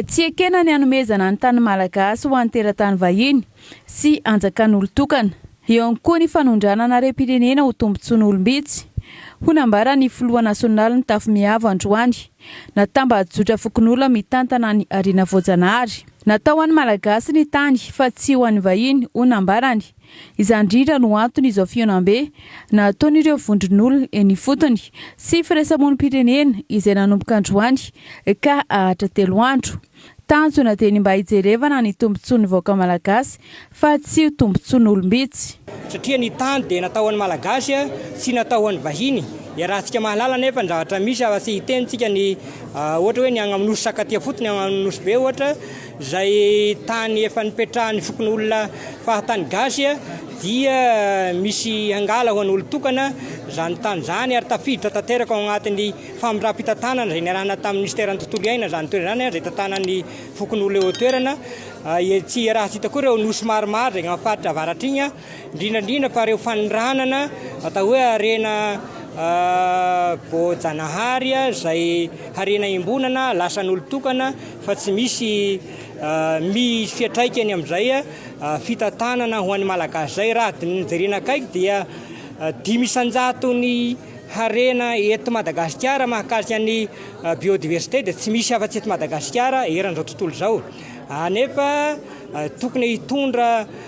Tsy ekena ny hanomezana ny tany malagasy ho an'ny teratany vahiny sy anjakan'olon-tokana. Eo ihany koa ny fanondranana harem-pirenena ho tombontsoan'olom-bitsy, hoy nambaran'ny filoha nasionaly nitafy miavo androany. Natambajotra fokonolona mitantana ny harena voajanahary. Natao ho an'ny Malagasy ny tany fa tsy ho an'ny vahiny, hoy nambarany. Izany indrindra no antony izao fihaonambe nataon'ireo vondron'olona eny ifotony sy firaisamonim-pirenena izay nanomboka androany ka hahatra telo andro. Tanjona dia ny mba hijerevana ny tombontsoan'ny vahoaka malagasy fa tsy ho tombontsoan'olom-bitsy. Satria ny tany dia natao ho an'ny Malagasy tsy natao ho an'ny vahiny. Iarahantsika mahalala anefa ny zavatra misy fa tsy hiteny tsika ny ohatra hoe ny agny amin'ny nosy sakatia fotsiny agny amin'ny nosy be ohatra. Izay tany efa nipetrahan'ny fokonolona fahatany gasy dia misy hangala ho an'olon-tokana izany tany izany ary tafiditra tanteraka ao anatin'ny famindram-pitantanana izay niarahana tamin'ny minisiteran'ny tontolo iaina izany toerana izany izay tantanan'ny fokonolona eo an-toerana. Etsy Rahatsita koa ireo nosy maromaro izay amin'ny faritra avaratr'iny. indrindra indrindra fa ireo fanondranana atao hoe harena voajanahary izay harena imbonana lasan'olon-tokana fa tsy misy misy fiatraikany amin'izay fitantanana ho an'ny malagasy izay raha adin'ny jerena akaiky dia dimy isanjaton'ny harena eto Madagasikara mahakasika ny biodiversité dia tsy misy afa-tsy eto Madagasikara eran'izao tontolo izao anefa tokony hitondra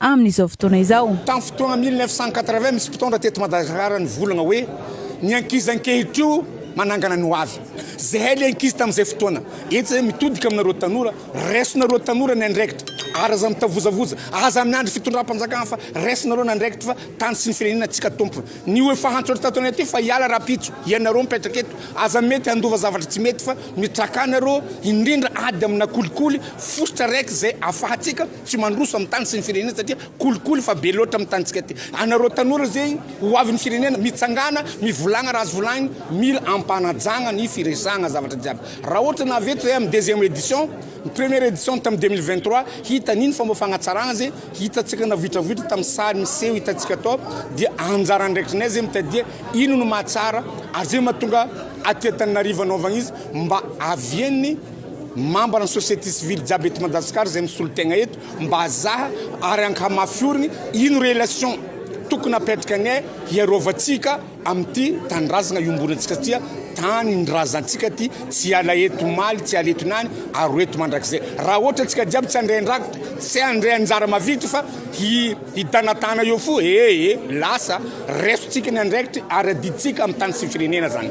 amin'izao fotoana izao. Tamin'ny fotoana mille neuf cent quatre-vingt, misy mpitondra teto Madagasikara nivolagna hoe ny ankizy ankehitrio manangana ny hoavy. Zahay le ankizy tamin'izay fotoana etsy izay mitodika aminareo tanora, raisinareo tanora ny andraikitra ary aza mitavozavoza, aza miandry fitondram-panjakana fa raisinareo ny andraikitra fa tany sy ny firenena antsika tompony. Ny ho efa antso eto tato anaty fa hiala rapitso ianareo mipetraka eto, aza mety handova zavatra tsy mety fa mitrakanareo indrindra ady amina kolikoly fositra raiky izay afahantsika tsy mandroso amin'ny tany sy ny firenena satria kolikoly fa be loatra amin'ny tanintsika aty. Anareo tanora izay ho avin'ny firenena, mitsangàna, mivolagna raha azo volaigny, mila ampanajagna ny firesagna zavatra jiaby. Raha ohatra ny nahavita zahay amin'ny deuxième édition, ny première édition tamin'ny deux mille vingt trois, hita an'igny fomba fagnatsaragna zay hitantsika navoitravoitra tamin'ny sary miseho hitantsika tao dia anjara andraikitrinay zay mitadia ino no mahatsara ary zay mahatonga aty Antananarivo anaovagna izy mba avien'ny Mambra ny société civile jiaby eto Madagascar zay misolo tegna eto mba azaha ary ankamafiorigny ino relation tokony apetrakane hiarovantsika amity tanindrazagna iombonantsika satria tanindrazantsika ty tsy hiala eto omaly tsy hiala eto niany ary ho eto mandrakizay raha ohatra antsika jiaby tsy handray andraki tsy handray anjara mavidy fa hi hitanatana eo fo ee lasa resotsika ny andraikitry ary adiditsika amy tany sy firenena zany